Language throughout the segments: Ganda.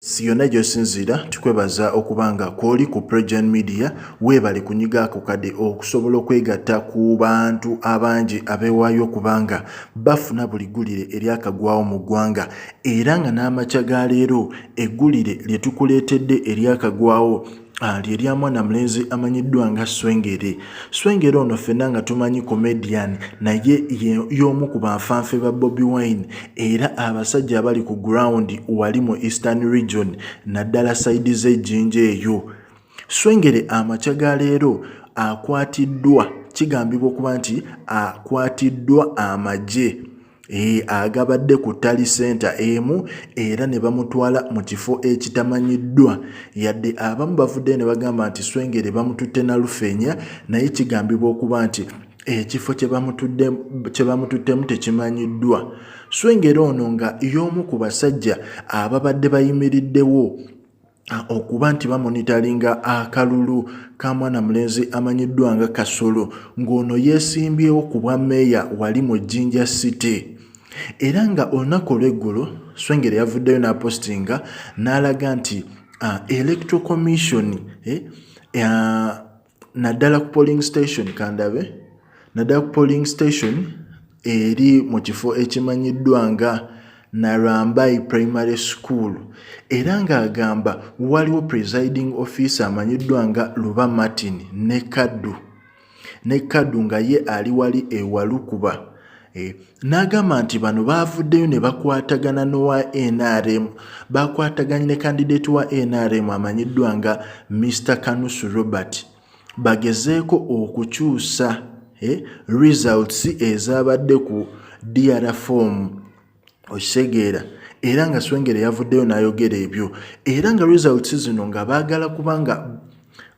si yonna gyosinziira tukwebaza okuba nga kwoli ku pregen media weebale kunyiga ako kade okusobola okwegatta ku bantu abangi abeewaayo okuba nga bafuna buli ggulire eryakagwawo mu ggwanga era nga n'amakya ga leero eggulire lye tukuleetedde eryakagwawo Ah, lye lya mwana mulenzi amanyiddwa nga swengere swengere ono ffenna nga tumanyi comedian naye y'omu ku banfanfe ba bobi wine era abasajja abali ku ground wali mu eastern region naddala saidi z'ejjinja eyo swengere amakya ga leero akwatiddwa kigambibwa okuba nti akwatiddwa amagye E, agabadde ku tali senta emu era ne bamutwala mu kifo ekitamanyiddwa yadde abamu bavudde ne bagamba nti swengere bamututte na lufeenya naye kigambibwa okuba nti ekifo kye bamututtemu tekimanyiddwa swengere ono nga y'omu ku basajja ababadde bayimiriddewo okuba nti bamonitalinga akalulu ka mwana mulenzi amanyiddwa nga kasolo ng'ono yeesimbyewo ku bwa meeya wali mu jinja city era nga olunaku olw'eggulo swengere yavuddeyo n'apostinga n'alaga nti electro commission eh, naddala ku polling station kandabe naddala ku polling station eri mu kifo ekimanyiddwa nga Narambai Primary School era ng'agamba waliwo presiding officer amanyiddwa nga Luba Martin ne Kaddu ne Kaddu nga ye ali wali ewalukuba Eh, n'agamba nti bano baavuddeyo ne bakwatagana n'owa nrm baakwataganye ne kandideeti wa nrm amanyiddwa nga mr kanusu robert bagezeeko okukyusa eh, results ezaabadde ku dr fomu okitegeera era nga swengere yavuddeyo n'ayogera ebyo era nga results zino nga baagala kubanga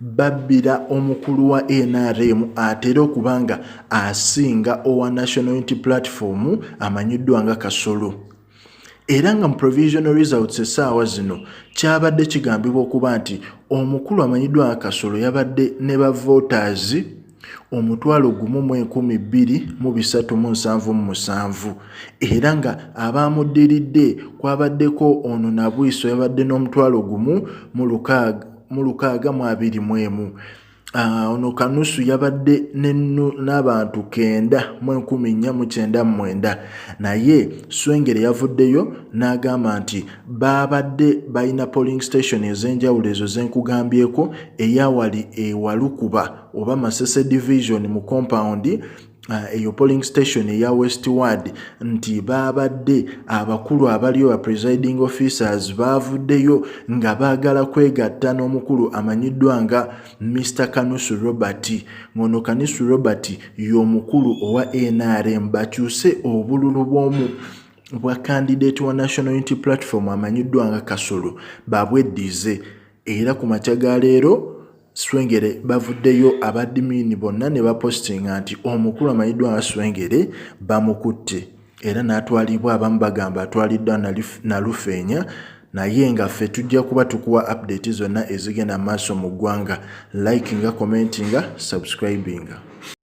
babbira omukulu wa nrm atera okuba nga asinga owa national unity platform amanyiddwa nga kasolo era nga mu provisional results essaawa zino kyabadde kigambibwa okuba nti omukulu amanyiddwa nga kasolo yabadde ne bavoters omutwalo gumu mu enkumi bbiri mu bisatu mu nsanvu mu musanvu era nga abaamuddiridde kwabaddeko ono nabwiso yabadde n'omutwalo gumu mu lukaaga mu abiri mu emu Ah, ono kanusu yabadde n'abantu kenda mu enkumi nnya mu kyenda mu mwenda naye swengere yavuddeyo n'agamba nti baabadde balina polling station ez'enjawulo ezo ze nkugambyeko eyawali ewalukuba oba masese division mu compound Ah, eyo uh, polling station eya westward nti baabadde abakulu abaliyo ba presiding officers baavuddeyo nga baagala kwegatta n'omukulu amanyiddwa nga mr kanusu robert ng'ono kanusu robert y'omukulu owa nrm bakyuse obululu bw'omu bwa kandidate wa national unity platform amanyiddwa nga kasolo babweddize era ku makya ga leero Swengere bavuddeyo abadimiini bonna ne bapositinga nti omukulu amanyiddwa nga Swengere bamukutte era n'atwalibwa abamu bagamba atwaliddwa Nalufeenya naye nga ffe tujja kuba tukuwa update zonna ezigenda maaso mu ggwanga likinga commentinga subscribinga